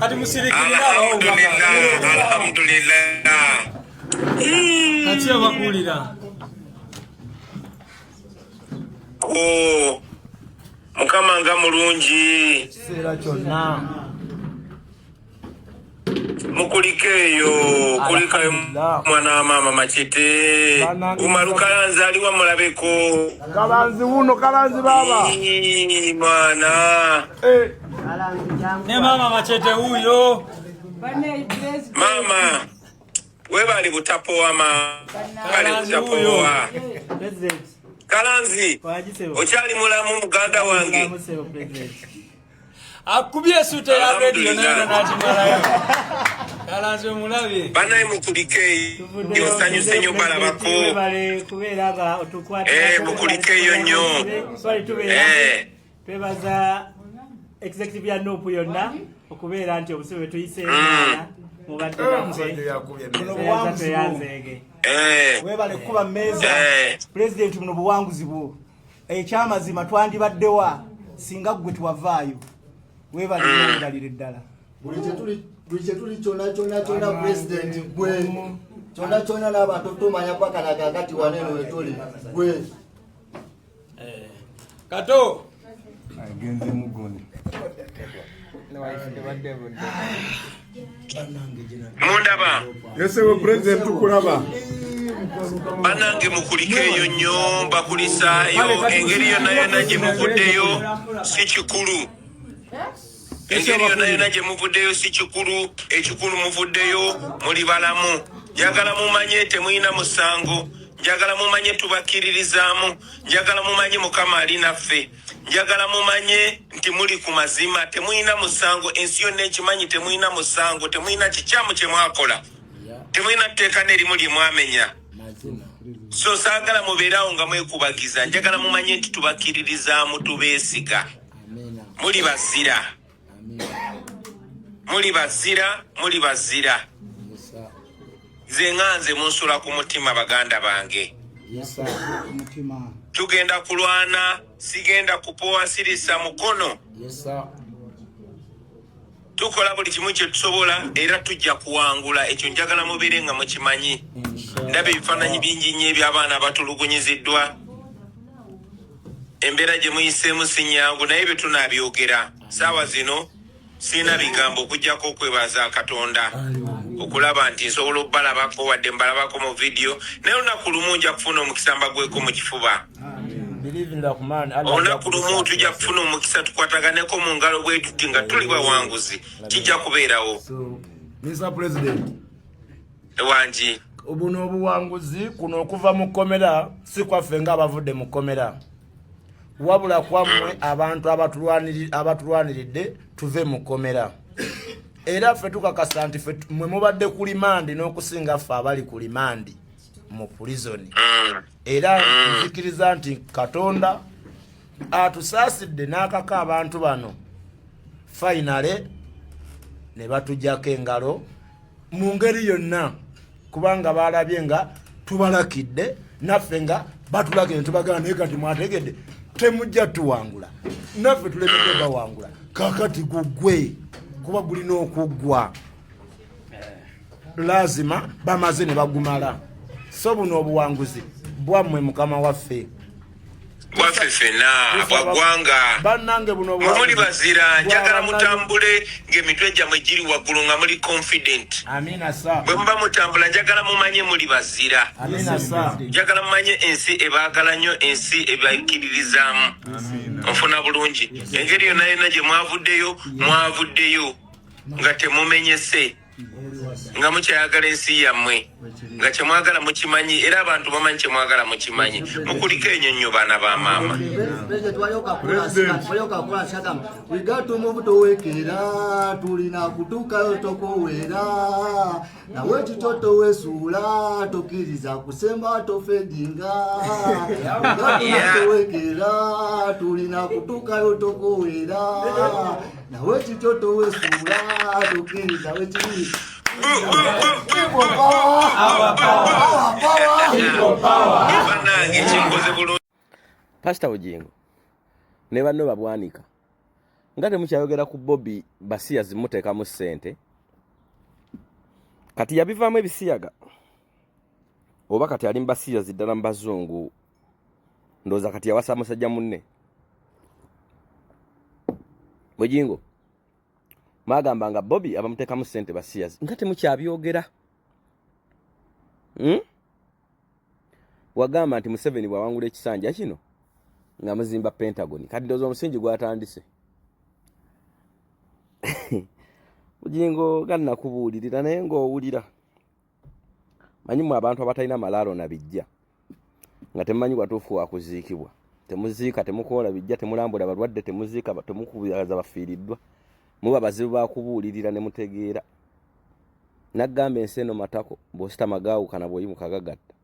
Hadi musirikirira alhamdulillah kati abakulira oh, mukama nga mulungi kiseera kyonna mukulikeeyo kulikayo mwana wa maama makite umaru kalanzi aliwa mulabeko kalanzi wuno kalanzi baba mwana eh. Ne mama machete huyo. Mama we bali butapoa ma bali butapoa. Kalanzi okyali mulamu muganda wange. Akubye sute ya radio na nakimalayo. Kalanzi omulabye. Banaye mukulike. Yosanyuse nyo balabako. Eh mukulike yo nyo. Eh. twebaza executive ya nup yonna okubeera nti obusibe bwetuyise ah. mubadde nafeyanzeege eh. webale kukuba mmeeza eh. pulezidenti muno buwanguzi bwo ekyamazima eh, twandibaddewa singa ggwe twavaayo webale ngalire ah. ddala buli kyetuli kyona kyona kyona pulezidenti gwe kyona kyona n'abantu tumanya kwakanaga agati waneno wetuli gwe Eh, kato agenze mugoni mundaba yesewe president tukulaba banange mukulikeeyo nnyo mbakulisaayo engeri yonna yonna gye muvuddeyo si kikulu eh? engeri yona yona gyemuvuddeyo si kikulu ekikulu muvuddeyo muli balamu njagala mumanye temulina musango njagala mumanye tubakkiririzaamu njagala mumanye mukama ali naffe njagala mumanye nti muli ku mazima temulina musango ensi yonna ekimanyi temulina musango temulina kikyamu kyemwakola temulina tteeka nerimu lyemwamenya so saagala mubeeraawo nga mwekubagiza njagala mumanye nti tubakkiririzaamu tubeesiga muli bazira muli bazira muli bazira nze nga nze munsula ku mutima baganda bange tugenda kulwana sigenda kupowa sirisa mukono tukola buli kimu kyetusobola era tujja kuwangula ekyo njagala mubeere nga mukimanyi ndaba ebifaananyi bingi nnyo ebyabaana abatulugunyiziddwa embeera gye muyiseemu si nyangu naye bye tunaabyogera saawa zino sirina bigambo okugyako okwebaza katonda okulaba nti nsobola okubalabako wadde mbalabako mu vidiyo naye olunaku lumu nja kufuna omukisa mbagweko mu kifuba olunaku lumu tujja kufuna omukisa tukwataganeko mu ngalo bwetuti nga tuli bawanguzi kijja kubeerawo ewangi buno obuwanguzi kuno okuva mu kkomera si kwaffe nga abavudde mu kkomera wabula kwammwe mm. abantu abatulwaniridde tuve mu kkomera era ffe tukakasa nti mwe mubadde ku limandi n'okusinga ffe abali ku limandi mu pulizoni mm. era mm. nzikiriza nti katonda atusaasidde n'akaka abantu bano fayinale ne batujako engalo mu ngeri yonna kubanga baalabye nga tubalakidde naffe nga batulakidde tubagala naye kati mwategedde temujja tuwangula naffe tulemedde bawangula kakati gugwe kuba gulina okuggwa lazima bamaze ne bagumala so buno obuwanguzi bwammwe mukama waffe bwaffe ffena bwaggwanga muli bazira njagala mutambule ng'emitwe gyammwe giri waggulu nga muli confident bwe muba mutambula njagala mumanye muli bazira njagala mumanye ensi ebaagala nnyo ensi ebakkiririzaamu nfuna bulungi engeri yonna yonna gye mwavuddeyo mwavuddeyo nga temumenyese nga mukyayagala ensi yammwe nga kyemwagala mukimanyi era abantu bamanyi kyemwagala mukimanyi mukuliko enyo nnyo baana ba maama tulina kutuukayo tokuwera nawe kito towesuula tokkiriza kusemba tofedinga towekeera tulina kutuukayo tokuweera nawe kito towesuula tokkiriza wekiri Our power. Our power. Our power. pasita bugingo ne banno babwanika nga temukyayogera ku bobi basiya zimuteekamu ssente kati yabivaamu ebisiyaga oba kati ali mubasiya ziddala mu bazungu ndowooza kati yawasa musajja munne bugingo mwagamba nga bobi abamuteekamu ssente basiyazi nga temukyabyogera hmm? wagamba nti museveni bwawangula ekisanja kino nga muzimba pentagon kati ndoza omusingi gwatandise bugingo ganakubuulirira naye ngaowulira manyi mu abantu abatalina malaalo na bijja nga temumanyi watuufu wakuziikibwa temuziika temukoola bijja temulambula balwadde temuziika temukubiaza bafiiriddwa muba bazibu bakubuulirira ne mutegeera naggamba ensi eno matako bwositama gaawukana bwoyimuka gagatta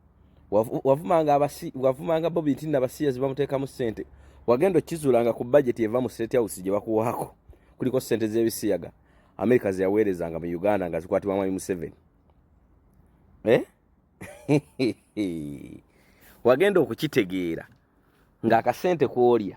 wavumanga bobi nti nabasiyazi bamuteekamu ssente wagenda okizulanga ku bajeti eva mu state house gye bakuwaako kuliko ssente z'ebisiyaga amerika zeyaweerezanga mu uganda nga zikwatibwa mwami museveni eh? wagenda okukitegeera ng'akasente kwolya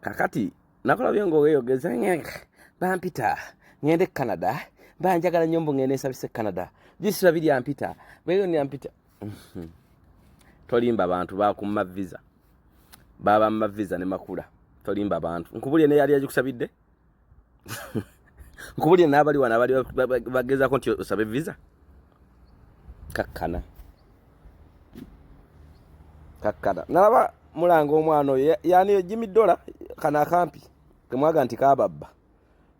kakati nakulabye ngaoweyogeza bampita ngende e canada banjagala nyo mbu ngende nsabise e canada bisula biri ampita beyoni ampita mhm. tolimba bantu bakumma visa baba mma visa ne makula tolimba bantu nkubulye neyali agikusabidde nkubulire n'abali wano abali bagezaako nti osabe visa kakkana kakkana nalaba mulanga omwana oyo yani jimi dola kano akampi kemwaga nti kababba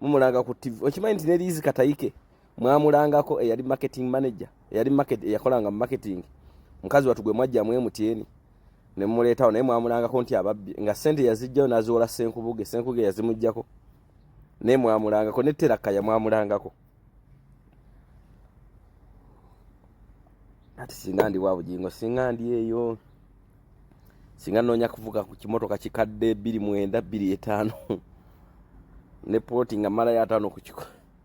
mumulanga ku tv okimanyi nti neriizi katayike mwamulangako eyali marketing manager eyali market eyakolanga mu marketing mukazi watu gwe mwajjamu emutyeeni ne mmuleetawo naye mwamulangako nti ababbi nga sente yazijjayo n'aziwola senkubuge senkuge yazimuggyako naye mwamulangako ne terakaya mwamulangako ati singa ndi wa bugingo singa ndi eyo singa nnoonya kuvuga ku kimotoka kikadde bbiri mwenda bbiri etaano ne pooti nga mmalayo ataano ku kiko